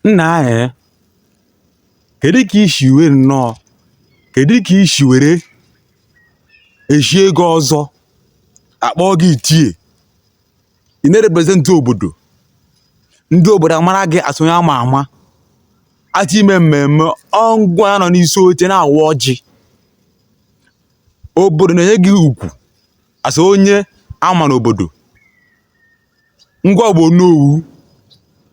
Nna anyị, kedu ka i si wee nọọ kedu ka i si were echie gị ọzọ akpọọ gị ichie ị na-represent obodo ndị obodo amara gị as onye ama ama a chọọ ime mmemme ọ ngịwa nọ n'isi oche na-awa ọjị obodo na-enye gị ugwu as onye ama n'obodo ngịwa bụ onowu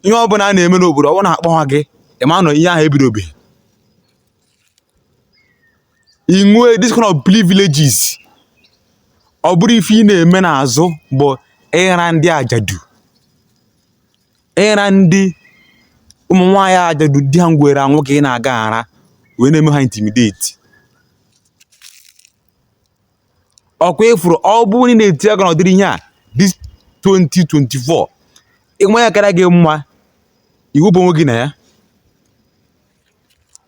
ihe ọ bụla a na-eme n'obodo ọ bụrụ na akpọha gị ị ma na ihe ahụ ebidobeghị i nwee this kind of privileges ọ bụrụ ife ị na-eme n'azụ bụ ịra ndị ajadu ịra ndị ụmụ nwaanyị ajadu di ha nwụrụ anwụ ka ị na-aga ara wee na-eme ha intimidate ọkwa ịfụrụ ọ bụrụ na ị na-eti aka n'ọdịrị ihe a this 2024 ịnwe ya kara gị mma iwepụ onwe gị na ya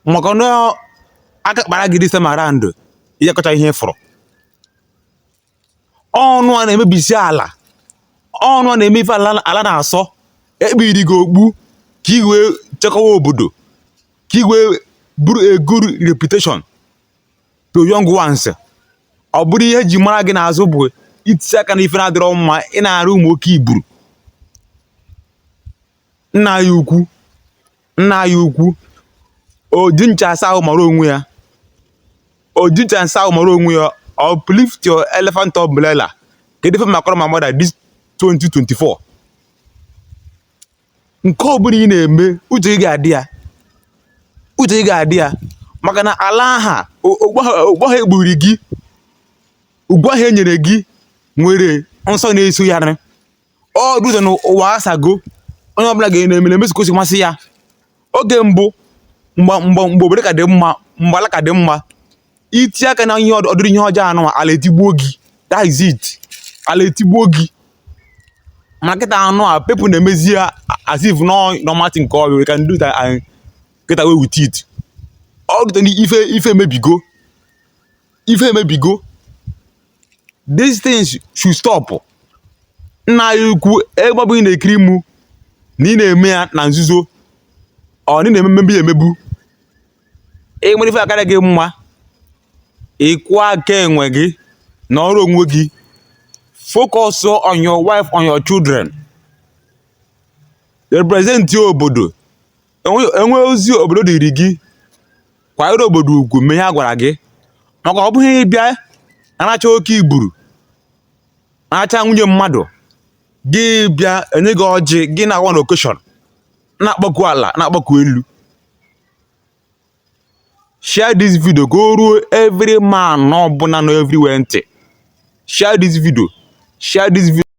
maka na aka kpara gị this time around ị ya-akọcha ihe ịfụrụ unuwa na-emebisi ala unuwa na-eme ife ala ala na-asọ ekpiri gị okpu ka ị wee chekwawa obodo ka ị wee bụrụ a good reputation to young ones ọ bụrụ ihe ji mara gị n'azụ bụ itisi aka na ife na-adịrọ mma ị na-arụ ụmụ oke iburu nna ha ukwu nna ha ukwu oji ncha asa ahụ mara onwe ya oji ncha asa ahụ mara onwe ya uplift your elephant umbrella kedu ife makọrọ ụmụ mmadụ this 2024 nke ọbụla ị na-eme uche ị ga-adị ya uche ị ga-adị ya maka na ala aha okpu ahụ ekpiri gị ugwu ahụ enyere gị nwere nsọ na-eso ya nị ọ dụzọ na ụwa asago onye ọbụla ga na-eme na-emezi ka o si masị ya oge mbụ mgbe mgbe mgbe obodo ka dị mma mgbe ala ka dị mma iti aka na ihe ọdịrị ihe ọjọọ anụwa ala etigbuo gị that is it ala etigbuo gị ma kịta anụwa people na-emezi ya as if na ọ normal thing ka ọ we can do that and get away with it ọ dịtara ife ife emebigo ife emebigo these things should stop nna anyị ukwu ebe ọ bụla ị na-ekiri mụ na ị na-eme ya na nzuzo or na ị na-eme mmegbu ya emegbu i nwere ife akara gị mma ịkwụ aka onwe gị na ọrụ onwe gị focus on your wife on your children represent obodo e nwee ozi obodo dịrị gị kwanyere obodo ugwu mee ihe a gwara gị maka ọ bụghị ịbịa aracha oke i buru aracha nwunye mmadụ gị bịa e nye gị ọjị gị na-awa na occasion na-akpọku ala na-akpọku elu share this video ka o ruo every man ọbụla nọ everywhere ntị share this video share this video